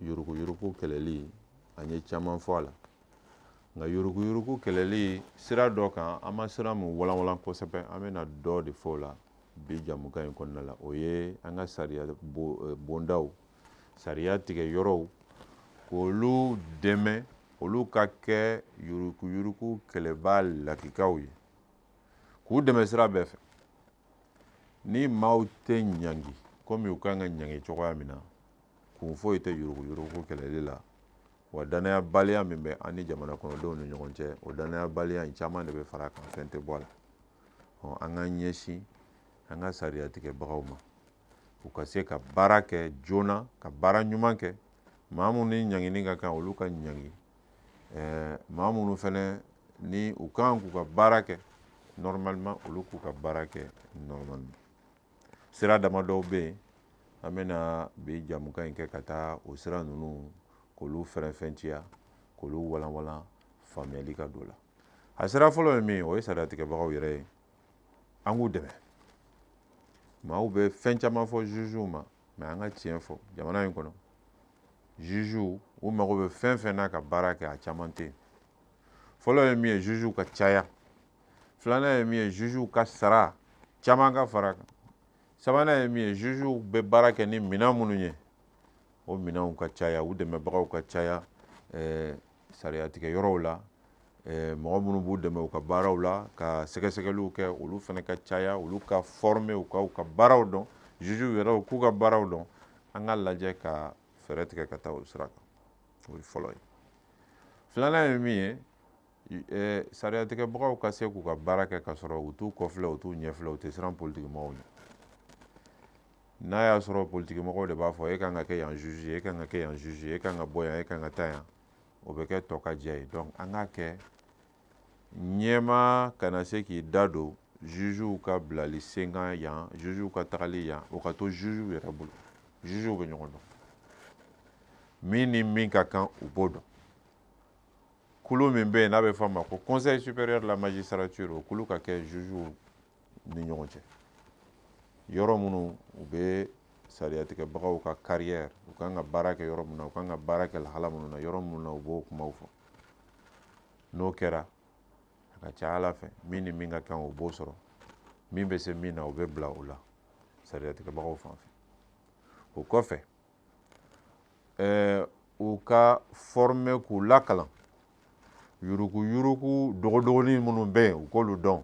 yuruguyurugu kɛlɛli an ye caman fɔ a la nka yuruguyurugu kɛlɛli sira dɔ kan an ma sira min walanwalan kosɛbɛ an bɛna dɔ de fɔ o la bi jamukan in kɔnɔna la o ye an ka sariya eh, bondaw sariya tigɛ yɔrɔw k'olu dɛmɛ olu ka kɛ yuruguyurugu kɛlɛbaa lakikaw ye k'u dɛmɛ sira bɛɛ fɛ ni maaw tɛ ɲangi komi u kan ka ɲangi cogoya min na kun foyi tɛ yuruguyurugu kɛlɛli la wa danayabaliya min bɛ an ni jamana kɔnɔdenw ni ɲɔgɔn cɛ o danayabaliya in caman de bɛ fara a kan fɛn tɛ bɔ a la ɔ an ka ɲɛsin an ka sariya tigɛbagaw ma u ka se ka baara kɛ joona ka baara ɲuman kɛ maa minnu ni ɲangini ka kan olu ka ɲangi ɛɛ maa minnu fana ni u kan k'u ka baara kɛ normalement olu k'u ka baara kɛ normalement sira dama dɔw bɛ yen an bɛna bi jamukan in kɛ ka taa o sira ninnu k'olu faranfasiya k'olu walanwalan faamuyali ka don a la a sira fɔlɔ ye min o ye sariyatigɛbagaw yɛrɛ ye an k'u dɛmɛ maaw bɛ fɛn caman fɔ jugew ma mais an ka tiɲɛ fɔ jamana in kɔnɔ jugew mago bɛ fɛn fɛn na ka baara kɛ a caman tɛ yen fɔlɔ ye min ye jugew ka caya filanan ye min ye jugew ka sara caman ka fara a kan sabanan ye min ye jugew bɛ baara kɛ ni minɛn minnu ye o minɛnw ka caya u dɛmɛbagaw ka caya ɛɛ sariyatigɛ yɔrɔw la eh, mɔgɔ minnu b'u dɛmɛ u ka baaraw la ka sɛgɛsɛgɛliw kɛ olu fana ka caya olu ka formé u ka u ka baaraw dɔn jugew yɛrɛw k'u ka baaraw dɔn an ka lajɛ ka fɛɛrɛ tigɛ ka taa o sira kan o ye fɔlɔ ye filanan ye min ye eh, sariyatigɛbagaw ka se k'u ka baara kɛ ka sɔrɔ u t'u kɔfilɛ u t'u ɲɛfilɛ u tɛ siran politikimɔgɔw ɲɛ n'a y'a sɔrɔ politikimɔgɔw de b'a fɔ e kan ka kɛ yan juge ye e kan ka kɛ yan juge ye e kan ka bɔ yan e kan ka taa yan o bɛ kɛ tɔkajɛ ye donc an k'a kɛ ɲɛmaa kana se k'i da don jugew ka bilali senkan yan jugew ka tagali yan o ka to jugew yɛrɛ bolo jugew bɛ ɲɔgɔn dɔn min ni min ka kan u b'o dɔn kulu min bɛ yen n'a bɛ fɔ a ma ko conseil supérieur de la magistrature o kulu ka kɛ jugew ni ɲɔgɔn cɛ yɔrɔ minnu u bɛ sariyatigɛbagaw ka carrière u kan ka baara kɛ yɔrɔ min na u kan ka baara kɛ lahala minnu na yɔrɔ minnu na u b'o kumaw fɔ n'o kɛra a ka ca ala fɛ min ni min ka kan o b'o sɔrɔ min bɛ se min na o bɛ bila o la sariyatigɛbagaw fan fɛ o kɔfɛ ɛɛ u ka fɔrɔme k'u la kalan yuruku yuruku dɔgɔdɔgɔnin minnu bɛ yen u k'olu dɔn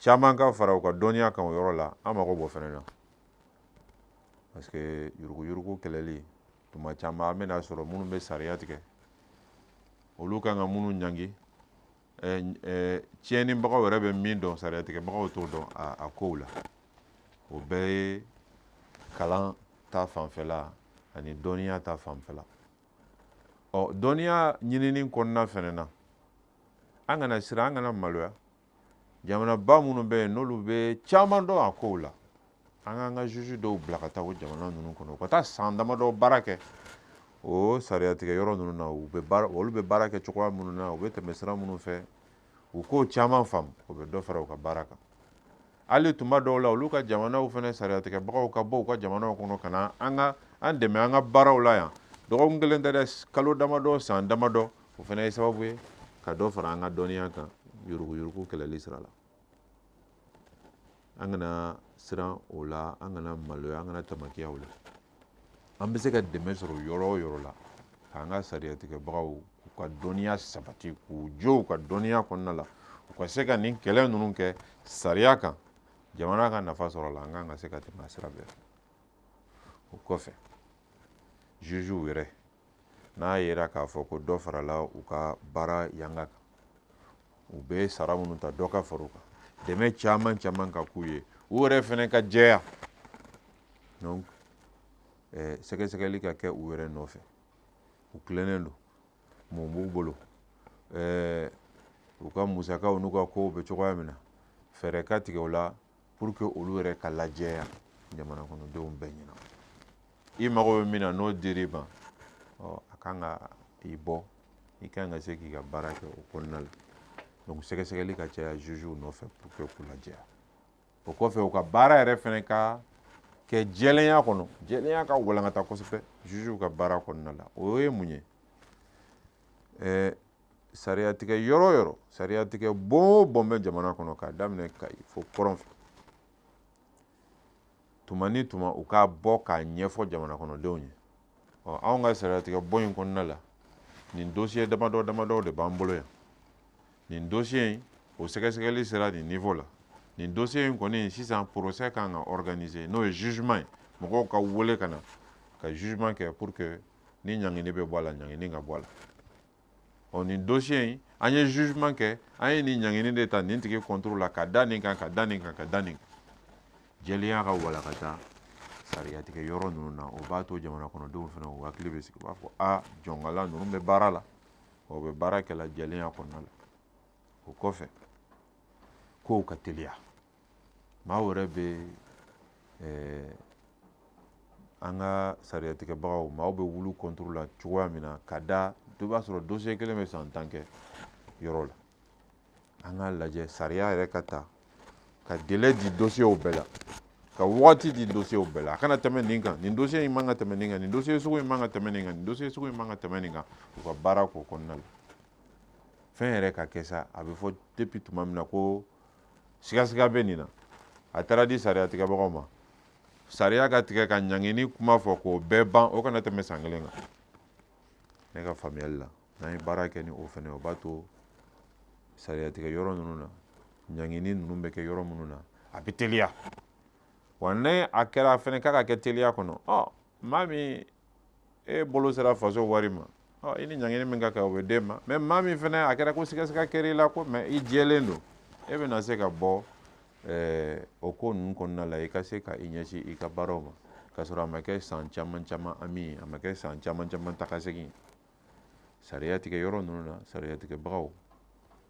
caman ka fara u ka dɔnniya kan o yɔrɔ la an mago b'o fɛnɛ na parce que yuruku yuruku kɛlɛli tuma caman an bɛn'a sɔrɔ minnu bɛ sariya tigɛ olu kan ka minnu ɲangi tiɲɛnibagaw yɛrɛ bɛ min dɔn sariyatigɛbagaw t'o dɔn a kow la o bɛɛ ye kalan ta fanfɛla ani dɔnniya ta fanfɛla ɔ dɔnniya ɲinini kɔnɔna fɛnɛ na an kana siran an kana maloya jamanaba minnu bɛ yen n'olu bɛ caman dɔn a kow la an k'an ka juge dɔw bila ka taa o jamana ninnu kɔnɔ u ka taa san damadɔ baara kɛ o sariyatigɛ yɔrɔ ninnu na u bɛ baara olu bɛ baara kɛ cogoya minnu na u bɛ tɛmɛ sira minnu fɛ u k'o caman faamu o bɛ dɔ fara u ka baara kan hali tuma dɔw la olu ka jamanaw fana sariyatigɛbagaw ka bɔ u ka jamanaw kɔnɔ ka na an ka an dɛmɛ an ka baaraw la yan dɔgɔkun kelen tɛ dɛ kalo damadɔ san damadɔ o fana ye sababu ye ka dɔ fara an ka dɔnniya kan yuruguyurugu kɛlɛli sira la an kana siran o la an kana maloya an kana tamakiya o la an bɛ se ka dɛmɛ sɔrɔ yɔrɔ o yɔrɔ la k'an ka sariyatigɛbagaw k'u ka dɔnniya sabati k'u jɔ u ka dɔnniya kɔnɔna la u ka se ka nin kɛlɛ ninnu kɛ sariya kan jamana ka nafa sɔrɔ a la an kan ka se ka tɛmɛ a sira bɛɛ fɛ o kɔfɛ jugew yɛrɛ n'a yera k'a fɔ ko dɔ farala u ka baara yanga kan u bɛ sara minnu ta dɔ ka fara u kan dɛmɛ caman caman ka k'u ye u yɛrɛ fɛnɛ ka jɛya donc eh, sɛgɛsɛgɛli ka kɛ u yɛrɛ nɔfɛ u tilennen don mun b'u bolo eh, u ka musakaw n'u ka kow bɛ cogoya min na fɛɛrɛ ka tigɛ o la pour que olu yɛrɛ ka lajɛya jamana kɔnɔdenw bɛɛ ɲɛna i mago bɛ min na n'o dir'i ma ɔ a kan ka i bɔ i kan ka se k'i ka baara kɛ o kɔnɔna la donc sɛgɛsɛgɛli ka caya jugew nɔfɛ pour que k'u lajɛya o kɔfɛ u ka baara yɛrɛ fɛnɛ ka kɛ jɛlenya kɔnɔ jɛlenya ka walankata kosɛbɛ jugew ka baara kɔnɔna la o ye mun ye ɛɛ sariyatigɛ yɔrɔ o yɔrɔ sariyatigɛ bon o bon bɛ jamana kɔnɔ k'a daminɛ kayi fo kɔrɔn fɛ tuma ni tuma u ka bɔ k'a ɲɛfɔ jamana kɔnɔdenw ye ɔ anw ka sariyatigɛ bon in kɔnɔna la nin dosiye damadɔ damadɔ de b'an bolo yan nin dosiye in o sɛgɛsɛgɛli sera nin niveau la nin dosiye in kɔni sisan procès kan ka organise n'o ye jugement ye mɔgɔw ka wele ka na ka jugement kɛ pour que ni ɲangini bɛ bɔ a la ɲangini ka bɔ a la ɔ nin dosiye in an ye jugement kɛ an ye nin ɲangini de ta nin tigi contre la ka da nin kan ka da nin kan ka da nin kan jɛlenya ka walakata sariyatigɛ yɔrɔ ninnu na o b'a to jamana kɔnɔdenw fana u hakili bɛ sigi u b'a fɔ a jɔnkala ninnu bɛ baara la o bɛ baara kɛla jɛlenya kɔnɔna la o kɔfɛ kow ka teliya maaw yɛrɛ bɛ eh, an ka sariyatigɛbagaw maaw bɛ olu contre la cogoya min na ka da dɔ b'a sɔrɔ dosiye kelen bɛ san tan kɛ yɔrɔ la an ka lajɛ sariya yɛrɛ ka ta ka délai di dosiyew bɛɛ la ka wagati di dosiyew bɛɛ la a kana tɛmɛ nin kan nin dosiye in man ka tɛmɛ nin kan nin dosiye sugu in man ka tɛmɛ nin kan nin dosiye sugu in man ka tɛmɛ nin kan u ka baara k'o kɔnɔna la fɛn yɛrɛ ka kɛ sa a bɛ fɔ depuis tuma min na ko sigasiga bɛ nin na a taara di sariya tigɛbagaw ma sariya ka tigɛ ka ɲangini kuma fɔ k'o bɛɛ ban o kana tɛmɛ san kelen kan ne ka faamuyali la n'an ye baara kɛ ni o fana o b'a to sariya tigɛ yɔrɔ ninnu na ɲangini ninnu bɛ kɛ yɔrɔ minnu na a bɛ teliya wa ni a kɛra fana k'a ka kɛ teliya kɔnɔ ɔ maa min e bolo sera faso wari ma i ni ɲangini min ka kan o bɛ d'e ma mais maa min fana a kɛra ko sigasiga kɛra i la ko mais i jɛlen don e bɛna se ka bɔ o ko ninnu kɔnɔna la i ka se ka i ɲɛsin i ka baaraw ma k'a sɔrɔ a ma kɛ san caman caman ami a ma kɛ san caman caman tagasegin sariya tigɛ yɔrɔ ninnu na sariya tigɛbagaw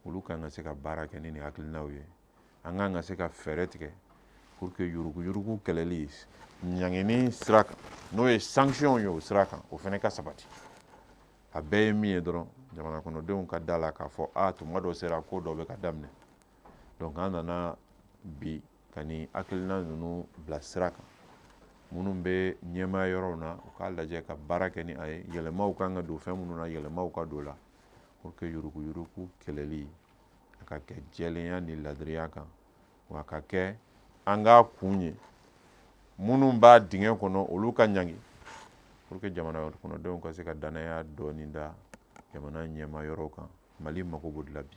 olu kan ka se ka baara kɛ ni nin hakilinaw ye an kan ka se ka fɛɛrɛ tigɛ pour que yuruguyurugu kɛlɛli ɲangini sira kan n'o ye sanctions ye o sira kan o fana ka sabati a bɛɛ ye min ye dɔrɔn jamana kɔnɔdenw ka d'a la k'a fɔ a tuma dɔ sera ko dɔ bɛ ka daminɛ donc an nana bi Ka nin hakilina ninnu bila sira kan minnu bɛ ɲɛmaya yɔrɔw na u k'a lajɛ ka baara kɛ ni a ye yɛlɛmaw kan ka don fɛn minnu na yɛlɛmaw ka don la pour que yuruguyurugu kɛlɛli a ka kɛ jɛlenya ni ladiriya kan wa a ka kɛ an k'a kun ye minnu b'a dingɛ kɔnɔ olu ka ɲangi pour que jamana kɔnɔdenw ka se ka danaya dɔɔni da jamana ɲɛmaa yɔrɔ kan mali mago b'o de la bi